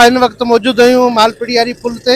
ان وقت موجود آهيون مالپڙي واري پل تي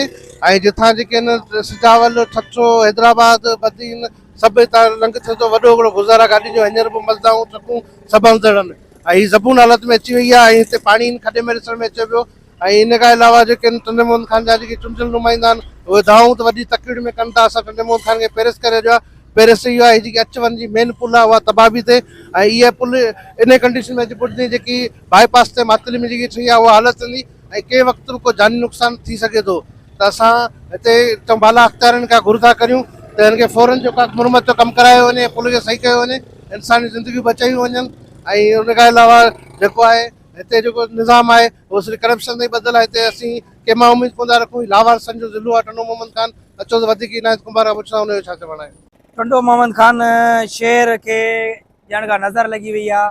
۽ جتان جيڪي ان سجاول ٺٽو حيدرآباد بدين سڀ هتان لنگهه ٿيو ٿو وڏو هڪڙو گذر آهي گاڏين جو هينئر به مزدائون ٽرڪون سڀ اندڙ آهن ۽ هي زبون حالت ۾ اچي وئي آهي ۽ هتي پاڻي هن کڏي ۾ ڏسڻ ۾ اچي پيو ۽ ان کان علاوه جيڪي آهن ٽنڊي محمد خان جا جيڪي چونڊيل نمائندا آهن اهي دعائون ته وڏي تڪڙي ۾ ڪن ٿا اسان ٽنڊي محمد خان کي پيرس ڪري ڇڏيو آهي پيرس اهو آهي جيڪي اچ وڃ جي مين پل آهي اها تباهه به ٿئي ۽ اهي پل انهي ڪنڊيشن ۾ اچي پهچندي جيڪي باء پاس تي معطلي ۾ جيڪي ٺهي آهي اها حالت رهندي ۽ ڪنهن وقت به ڪو جاني نقصان ٿي سگهي ٿو ته اسان هتي چئون بالا اختيارين کان گهر ٿا ڪريون ته هن کي فورن جو ڪاڪ مرمت جو ڪم ڪرايو وڃي ۽ پل کي صحيح ڪيو وڃي انساني زندگيون بچايون وڃن ۽ ان کان علاوه جيڪو آهي هتي جيڪو نظام آهي اهو صرف ڪرپشن تائين ٻڌل آهي هتي اسين ڪنهن مان اميد ڪونه ٿا رکون هي لاوارثن جو ضلعو آهي ٽنڊو محمد خان اچو ته وڌيڪ عنايت ڪنڀار کان پڇندا ان جو ڇا چوڻ آهي. ٽنڊو محمد خان شهر کي ڄڻ ڪا نظر لڳي وئي آهي.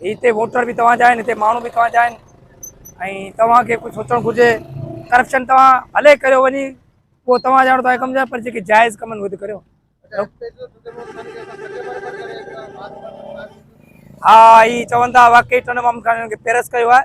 هتي ووٽر به توهان جا آهن هتي ماڻهو به توهان جا آهن ۽ توهان کي ڪجهه سوچڻ گهرجي ڪرپشن توهان هلي ڪريو وڃي پوء توهان جاڻو توهان ڪم جا پر جيڪي جائز ڪم آهن اهي ته ڪريو ها هي چون ٿا واقعي ٽن مامن کان هنن کي پيرس ڪيو آهي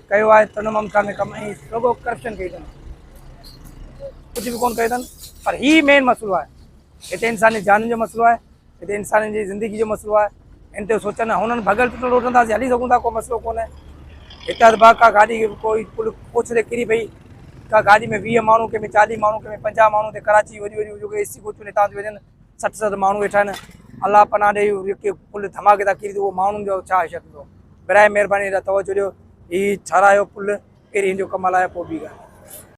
ڪيو آهي تنهن ممتا ۾ ڪم ۽ رڳو ڪرپشن ڪئي اٿن ڪجهه به ڪون ڪيو اٿن پر هي مين مسئلو آهي هتي انساني جانن جو مسئلو آهي هتي انسانن جي زندگي جو مسئلو آهي ان تي سوچن هنن ڀڳل ٽٽل روڊن تان هلي سگهون ٿا ڪو مسئلو ڪونهي هتي ادبا ڪا گاڏي ڪوئي پل پوڇ تي ڪري پئي ڪا گاڏي ۾ ويهه ماڻهو ڪنهن ۾ چاليهه ماڻهو ڪنهن ۾ پنجاهه ماڻهو هتي ڪراچي وڏيون وڏيون جيڪي اي سي ڪوچون هتان ٿيون وڃن سٺ ست ماڻهو ويٺا آهن الله پناهه ڏي اهو جيڪي پل ڌماڪي تان ڪري ٿي اهو ماڻهن جو ڇا حيثيت هوندو برائي مهرباني هيڏانهن توجه ڏيو هي ٺهرايو پل پهرين هن جو ڪم هلايو پوء ٻي ڳالهه